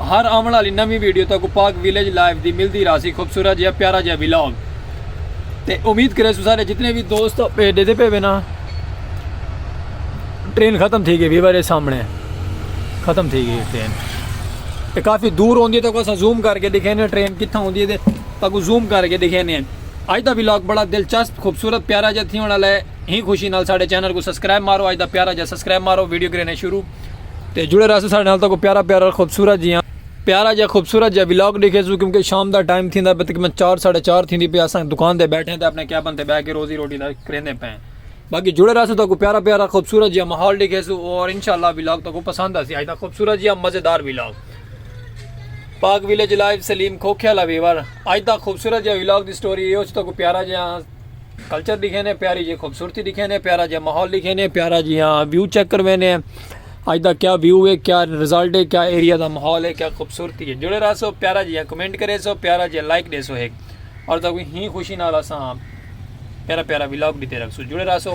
ہر آوݨ آلی نویں ویڈیو تہاکوں پاک ویلیج لائف دی ملدی راہسی خوبصورت جیہا پیارا جیہا ولاگ تے امید کریسوں سارے جتنے وی دوست پہ ڈیدے پے وینا ٹرین ختم تھی گئی ویور دے سامنے ختم تھی گئی ٹرین تے کافی دور ہوندی ہے تے اساں زوم کر کے دکھینے ٹرین کتھاں ہوندی ہے تے تاکو زوم کر کے دکھینے اج دا ولاگ بڑا دلچسپ خوبصورت پیارا جا تھی ہونا لے ہی خوشی نال ساڈے چینل کو سبسکرائب مارو اج دا پیارا جا سبسکرائب مارو ویڈیو کرینے شروع تے جڑے رہسو ساڈے نال تہاکوں پیارا پیارا خوبصورت جیہاں پیارا جیہاں خوبصورت جیہاں ولاگ ڈیکھیسو کیونکہ شام دا ٹائم تھیندا پیا تقریبا چار ساڈے چار تھیندی پئی اساں دکان تے بیٹھے تے اپنے کیبن تے بیٹھ کے روزی روٹی دا کریندے پئے ہیں باقی جڑے رہسو تہاکوں پیارا پیارا خوبصورت جیہاں ماحول ڈیکھیسو اور انشاءاللہ ولاگ تہاکوں پسند آسی اج دا خوبصورت جیہاں مزیدار ولاگ پاک ویلیج لائیو سلیم کھوکھے والا ویور اج دا خوبصورت جیہاں ولاگ دی سٹوری ایہو تہاکوں پیارا جیہاں کلچر ڈکھینے پیاری جی خوبصورتی ڈکھینے پیارا جی ماحول ڈکھینے پیارا جی ہاں ویو چیک کروینے اج دا کیا ویو ہے کیا رزلٹ ہے کیا ایریا دا ماحول ہے کیا خوبصورتی ہے جڑے رہا سو پیارا جی کمنٹ کرے سو پیارا جی لائک دے سو ایک اور دا کوئی ہی خوشی نال اساں پیارا پیارا ولاگ ڈیتے رکھ سو جڑے رہا سو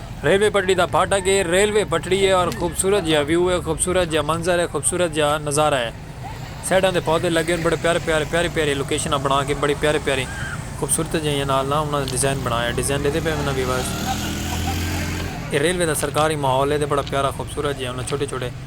ریلوے پٹڑی دا پھاٹک اے، ریلوے پٹڑی اے اور خوبصورت جیہا ویو اے، خوبصورت جیہا منظر اے، خوبصورت جیہا نظارہ اے۔ سائیڈاں تے پودے لگے ہن، بڑے پیارے پیارے، پیاری پیاری لوکیشناں بنا کے بڑی پیاری پیاری خوبصورت جیہاں نال نا انہاں نے ڈیزائن بنایا اے، ڈیزائن ڈیندے پئے وناں ویورز۔ اے ریلوے دا سرکاری ماحول اے تے بڑا پیارا خوبصورت جیہاں انہاں چھوٹے چھوٹے۔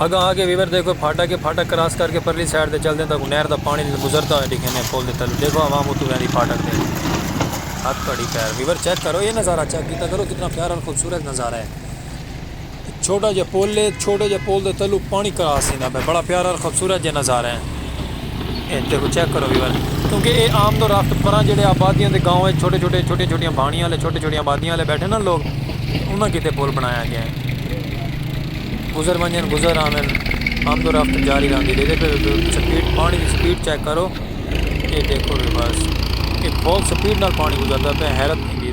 اگاں آگے ویور دے کوئی پھاٹا کے پھاٹا کراس کر کے پرلی سائیڈ دے چل دیں تاکہ نہر دا پانی گزرتا ہوئے ڈیکھیں دے پول دے تلو دیکھو عوام اتو ویندی پھاٹک دے ہاتھ کڑی پیر ویور چیک کرو یہ نظارہ چیک کیتا کرو کتنا پیارا اور خوبصورت نظارہ ہے چھوٹا جیا پل ہے چھوٹے جے پل دے تلو پانی کراس تھیندا پئے بڑا پیارا اور خوبصورت جے نظارہ ہیں اے دیکھو چیک کرو ویور کیونکہ اے آمد و رفت پراں جڑے آبادیاں دے گاؤں اچ چھوٹے چھوٹے چھوٹیاں چھوٹیاں بھانیاں والے چھوٹے چھوٹیاں آبادیاں والے بیٹھے نا لوگ انہاں کیتے پل بنایا گیا ہیں گزر ونجن گزر آون آمد و رفت جاری رہندی دیکھے سپیڈ پانی دی سپیڈ چیک کرو اے دیکھو ویورز اے بہت سپیڈ نال پانی گزردا پئے حیرت تھیندی۔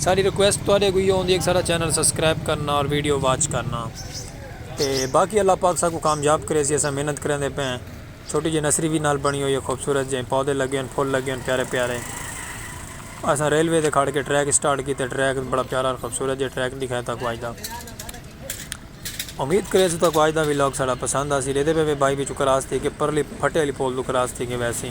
ساڈی ریکویسٹ تواڈے کو ایو ہوندی ہے کہ ساڈا چینل سبسکرائب کرنا اور ویڈیو واچ کرنا تے باقی اللہ پاک ساکوں کامیاب کرے اسی اساں محنت کریندے پئے ہیں چھوٹی جئی نرسری وی نال بنڑی ہوئی ہے خوبصورت جئیں پودے لگے ہن پھل لگے ہن پیارے پیارے اساں ریلوے تے کھڑ کے ٹریک سٹارٹ کیتے ٹریک بڑا پیارا اور خوبصورت جئیں ٹریک دکھایا تاکوں اج دا امید کرے اسوں تاکوں اج دا ولاگ ساڈا پسند آسی ڈیدے پئے وے بائی وچوں کراس تھی کے پرلی پھٹے علی پول توں کراس تھی کے ویسی